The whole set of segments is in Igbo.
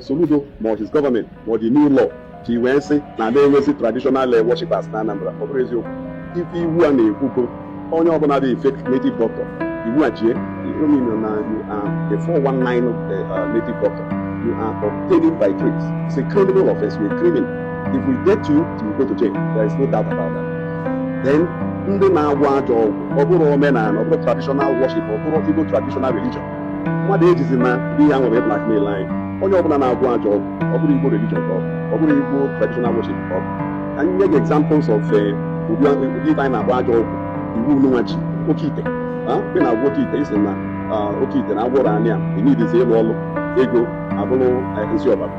Soludo ma ọ his gọọmenti ma ọ the new law ji wee sị na ada enwezi traditional eh, worshipers na Anambra ọ bụrọ eziokwu ife iwu a na-ekwu bụ onye ọbụla dị fake native doctor iwu a jie ọ mean na you are a 419 eh, eh, native doctor you are obtaining by tricks it's a criminal offense you're a criminal If we get you, you go to jail, there is no doubt about that. Then ndị na-agwọ ajọ ọgwụ ọ bụrọ omenala ọ bụrọ traditional worship ọ bụrọ igbo traditional religion mmadụ ejizina ihe a wee blackmail anyị onye ọbụla na-agwọ ajọ ọgwụ ọ bụrọ igbo religion ka ọ bụ ọ bụrọ igbo traditional worship ka ọ bụ ka anyị nye gị examples of eh, ụdị ụdị ife anyị na-akpọ ajọ ọgwụ iwu nwa ji oke ite ah, ị na-agwọ oke ite ị sị na ah, oke ite na agwọrọ anyị a ị needizi ịlụ ọlụ ego abụrụ eh, nsị ọbara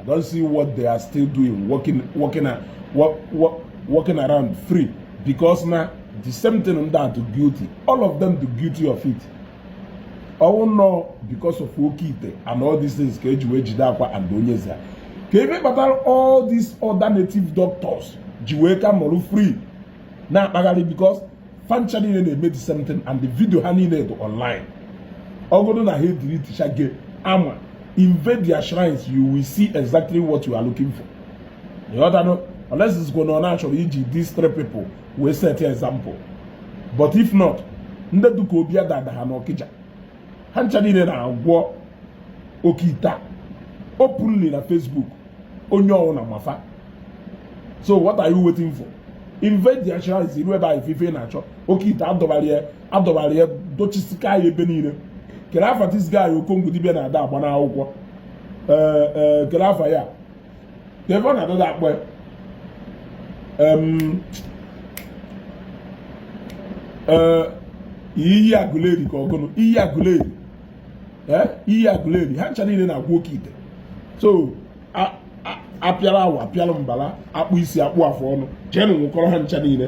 I don't see what they are still doing, walking, walking, walk, walk, walking around free because na the same thing ndị a dụ guilty all of them dụ guilty of it ọwụ nnọọ because of oke ite and all these things ka eji wee jide Akwa and Onyeze a kee ife kpatara all these other native doctors ji wee ka nọrọ free na-akpagharị because fa ncha niile na-eme the same thing and the video ha niile dị online ọgodụ na ha edeletechaa gị ama invade their shrines you will see exactly what you are looking for ịghọtanụ unless ị sịgo na ọ na a chọrọ iji these three people wee set example but if not ndị dịka obi adada ha n'ọkịja ha ncha niile na-agwọ oke ite openly na Facebook onye ọwụna ma fa so what are you waiting for invade their shrines i ru ebe ahụ ife ị na-achọ oke ite adọbara adọbara ya dochisika ya ebe niile kere afa this guy okongo dibia na ada agba n'akwụkwọ eh, eh, kere afa ya The one na ada akpọ iyi agụleri ka ọ gụnụ iyi agụleri iyi agụleri ha ncha niile na-agwọ oke ite so apịara awa apịara mbala akpụ isi akpụ afọ ọnụ jeenụ nwụkọrọ ha ncha niile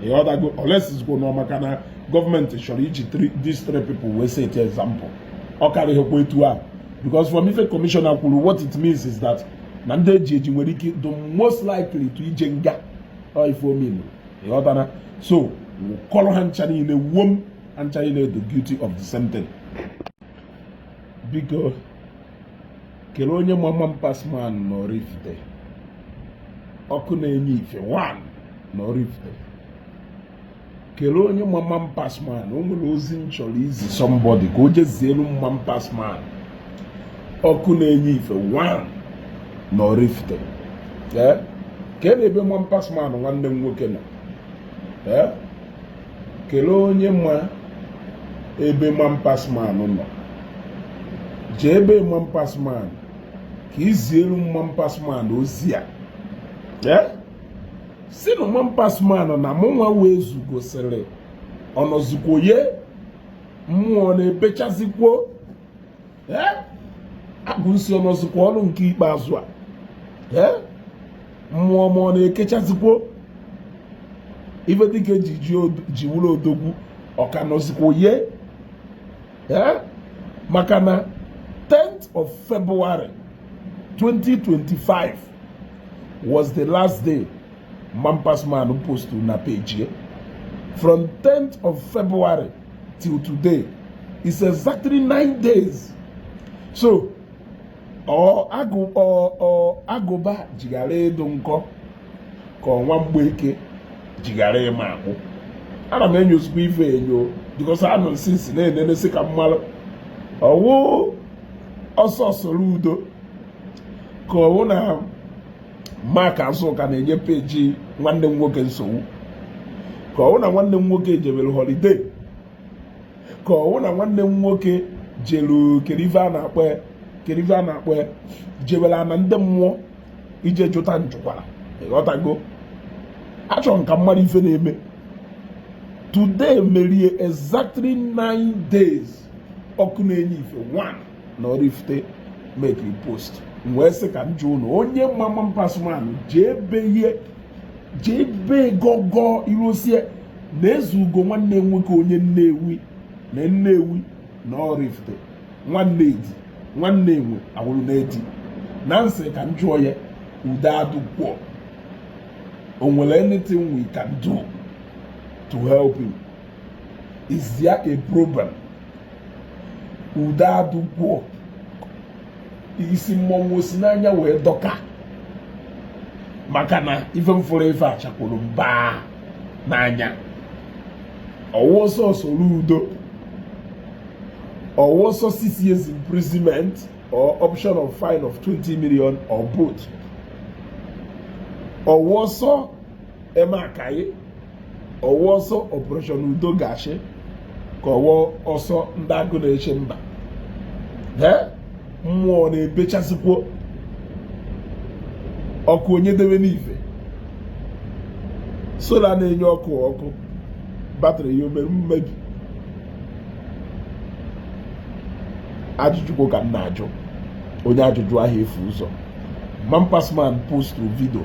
ịghọtago unless ị sịgo na ọ maka na gọọmenti chọrọ iji these three people wee set example ọ karịghịkwa etu ahụ because from ife commissioner kwuru what it means is that na ndị eji eji nwere ike dị most likely to ije nga ọ ife ọ mean ịghọtara so nwụkọrọ ha ncha niile wuo m ha ncha niile dụ guilty of the same thing biko kelee onye mama m pasman na Oraifite ọkụ na-enye ife one na Oraifite kele onye ma Man Pass Man o nwere ozi m chọrọ izi somebody ka o je zielu m Man Pass Man ọkụ na-enye ife one na Oraifite ee kele ebe Man Pass Man nwanne m nwoke nọ ee kele onye ma ebe Man Pass Man nọ jee be Man Pass Man ka i zielu m Man Pass Man ozi a ee sị nụ Man Pass Man na mụnwa wụ Ezeugo sịrị ọ nọzikwo ya mmụọ na-ebechazikwo agụ m sị ọ nọzikwa ọrụ nke ikpeazụ a mmụọ ma ọ na-ekechazikwo ife dịka eji ji wụrụ odogwu ọ ka nọzikwo ya maka na 10th of February 2025 was the last day Man Pass Man post na page from 10th of February till today it's exactly nine days so ọ agụ ọ ọ agụba ji ghara ịdụ nkọ ka ọ nwa mgbeke ji ghara ịma akpụ ana m enyozikwo ife enyo because anọ m since na-enenesi ka m malụ ọ wụ ọsọ Soludo ka ọ wụ na Mark Zucker na-enye page nwanne m nwoke nsogbu ka ọ wụ na nwanne m nwoke jebere holiday ka ọ wụ na nwanne m nwoke jelu kele ife kele ife a na-akpọ ya jebere ana ndị mmụọ ije jụta njụkwara ị ghọtago achọrọ m ka m malụ ife na-eme today merie exactly nine days ọkụ na-enye ife one na Oraifite mekiri post m wee sị ka m jụọ nụ onye ma Man Pass Man jee be ya jee be gọgọ irosie na Ezeugo nwanne nwoke onye Nnewi na Nnewi na Oraifite nwanne edi nwanne enwe awụrụ na edi na m sị ka m jụọ ya udo adụkwọ o nwere anything we can do to help him is there a problem udo adụkwọ isi mmọnwụ o si n'anya wee dọka maka na ife m fụrụ ife achakwuru mba n'anya ọ wụ ọsọ Soludo ọ wụ ọsọ six years imprisonment or option of fine of 20 million or both ọ wụ ọsọ eme akaye ọ wụ ọsọ operation udo ga-achị ka ọ wụ ọsọ ndị agụ na-eche mba mmụọ na-ebechasịkwo ọkụ onye debe n'ife solar na-enye ọkụ ọkụ batrị ya o mere mmebi ajụjụkwo ka m na-ajụ onye ajụjụ aha efu ụzọ man pass man post video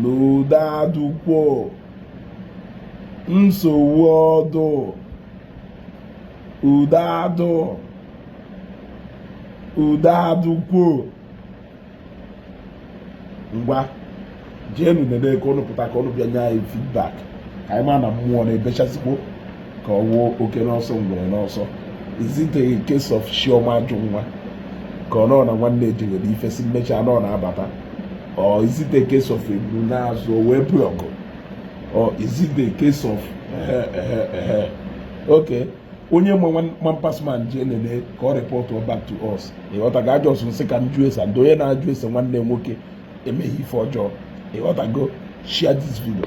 n'ụda adụkwo nsogbu ọ dụ ụda adụ ụda adụkwo ngwa jeenu nene ka ụnụ pụta ka ụnụ bịa nye anyị feedback ka anyị ma na mmụọ na-ebechasịkwo ka ọ wụ oke n'ọsọ ngwere n'ọsọ is it a case of chioma ajụ nwa ka ọ nọ na nwanne ejewere ife si mmecha nọ na-abata or is it a case of eburu n'azụ wee bụ ọgụ or is it a case of ehe ehe ehe okay onye ma man pass man jee nene ka ọ report back to us ịghọtago a just m sị ka m jụ ese and onye na-ajụ ese nwanne nwoke emeghị ife ọjọọ ịghọtago share this video